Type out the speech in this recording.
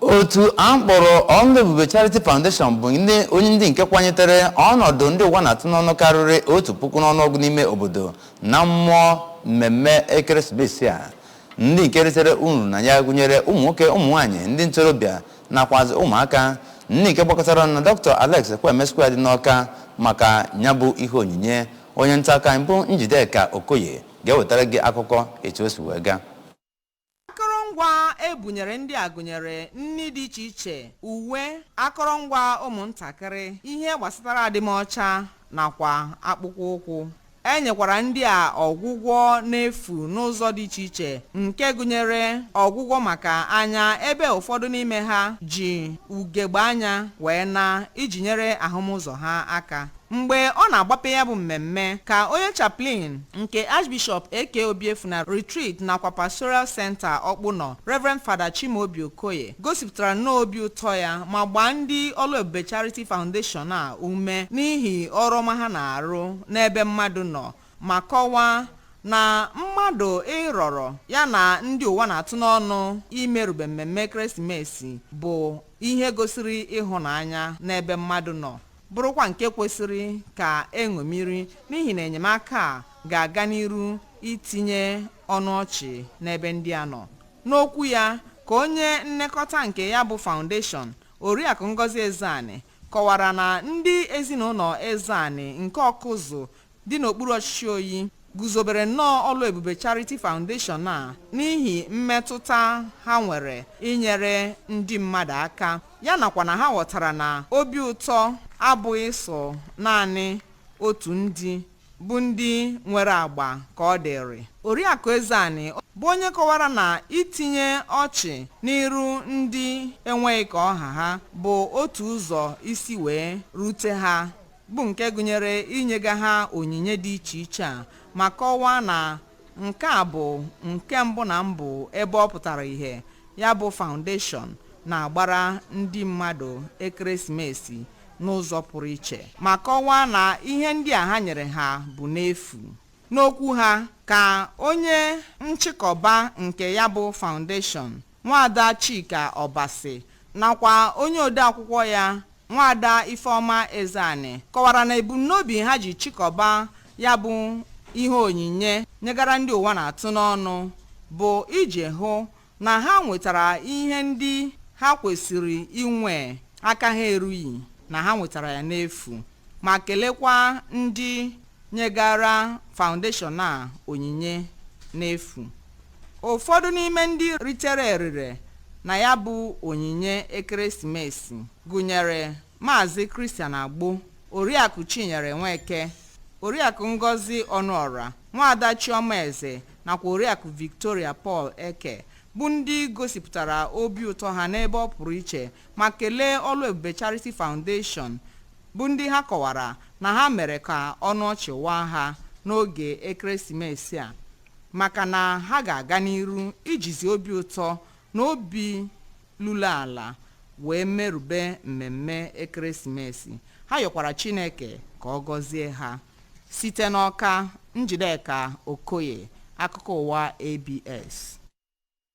Otu a kpọrọ Ọlụ Ebube Charity Foundation bụ onye ndị nke kwanyetere ọnọdụ ndị ụwa na-atụ n'ọnụ karịrị otu puku n'ọnụọgụ n'ime obodo na mmụọ mmemme ekeresimesi a ndị nke ritere uru na ya gụnyere ụmụ nwoke ụmụ nwaanyị ndị ntorobịa nakwazi ụmụaka ndị nke gbakọtara na Dr. Alex Ekwueme Square dị n'Ọka maka nya bụ ihe onyinye onye nta akụkọ anyị bụ Njideka Okoye ga-ewetara gị akụkọ etu o si wee gaa Akọrọngwa e bunyere ndị a gụnyere nri dị iche iche, uwe, akọrọngwa ụmụntakịrị, ihe gbasatara adịmọcha nakwa akpụkpọ ụkwụ. E nyekwara ndị a ọgwụgwọ n'efu n'ụzọ dị iche iche nke gụnyere ọgwụgwọ maka anya ebe ụfọdụ n'ime ha ji ugegbe anya wee naa iji nyere ahụmụzọ ha aka. Mgbe ọ na-agbape ya bụ mmemme, ka onye Chaplain nke Archbishop AK Obiefuna Retreat nakwa Pastoral Centre Ọkpụnọ, Reverend Father Chimaobi Okoye, gosipụtara nnọọ obi ụtọ ya ma gbaa ndị Ọlụ Ebube Charity Foundation a ume n'ihi ọrụ ọma ha na-arụ n'ebe mmadụ nọ ma kọwaa na mmadụ ịrọrọ ya na ndị ụwa na-atụ n'ọnụ imerube mmemme ekeresimesi bụ ihe gosiri ịhụnanya n'ebe mmadụ nọ bụrụkwa nke kwesịrị ka e ṅomiri n'ihi na enyemaka a ga-aga n'iru itinye ọnụ ọchị n'ebe ndị a nọ n'okwu ya ka onye nnekọta nke ya bụ foundation oriakụ ngozi ezeani kọwara na ndị ezinụlọ ezeani nke ọkụzụ dị n'okpuru ọchịchị oyi guzobere nnọọ ọlụ ebube charity foundation a n'ihi mmetụta ha nwere inyere ndị mmadụ aka ya nakwa na ha ghọtara na obi ụtọ abụghị sọ naanị otu ndị bụ ndị nwere agba ka ọ dịrị oriakụ ezeani bụ onye kọwara na itinye ọchị n'iru ndị enweghị ka ọ ha ha bụ otu ụzọ isi wee rute ha bụ nke gụnyere inyega ha onyinye dị iche iche a ma kọwaa na nke a bụ nke mbụ na mbụ ebe ọ pụtara ihe ya bụ foundation na-agbara ndị mmadụ ekeresimesi n'ụzọ pụrụ iche ma kọwaa na ihe ndị a ha nyere ha bụ n'efu n'okwu ha ka onye nchịkọba nke ya bụ foundation Nwaada Chika Obasi nakwa onye odeakwụkwọ ya, Nwaada Ifeọma Ezeani kọwara na ebumnobi ha ji chịkọba ya bụ ihe onyinye nyegara ndị ụwa na-atụ n'ọnụ bụ iji hụ na ha nwetara ihe ndị ha kwesiri inwe aka ha erughị na ha nwetara ya n'efu ma kelekwa ndị nyegara foundation a onyinye n'efu. Ụfọdụ n'ime ndị ritere erere na ya bụ onyinye ekeresimesi gụnyere Maazị Christian Agbo, Oriakụ Chinyere Nweke, Oriakụ Ngozi Ọnụọra, Nwaada Chiọma Eze nakwa Oriakụ Victoria Paul Eke bụ ndị gosipụtara obi ụtọ ha n'ebe ọ pụrụ iche ma kelee Oluebube Charity Foundation bụ ndị ha kọwara na ha mere ka ọnụ ọchị waa ha n'oge ekeresimesi a maka na ha ga-aga n'iru ijizi obi ụtọ na obi lulu ala wee merube mmemme ekeresimesi ha yọkwara chineke ka ọ gọzie ha site n'ọka njideka okoye akụkọ ụwa abs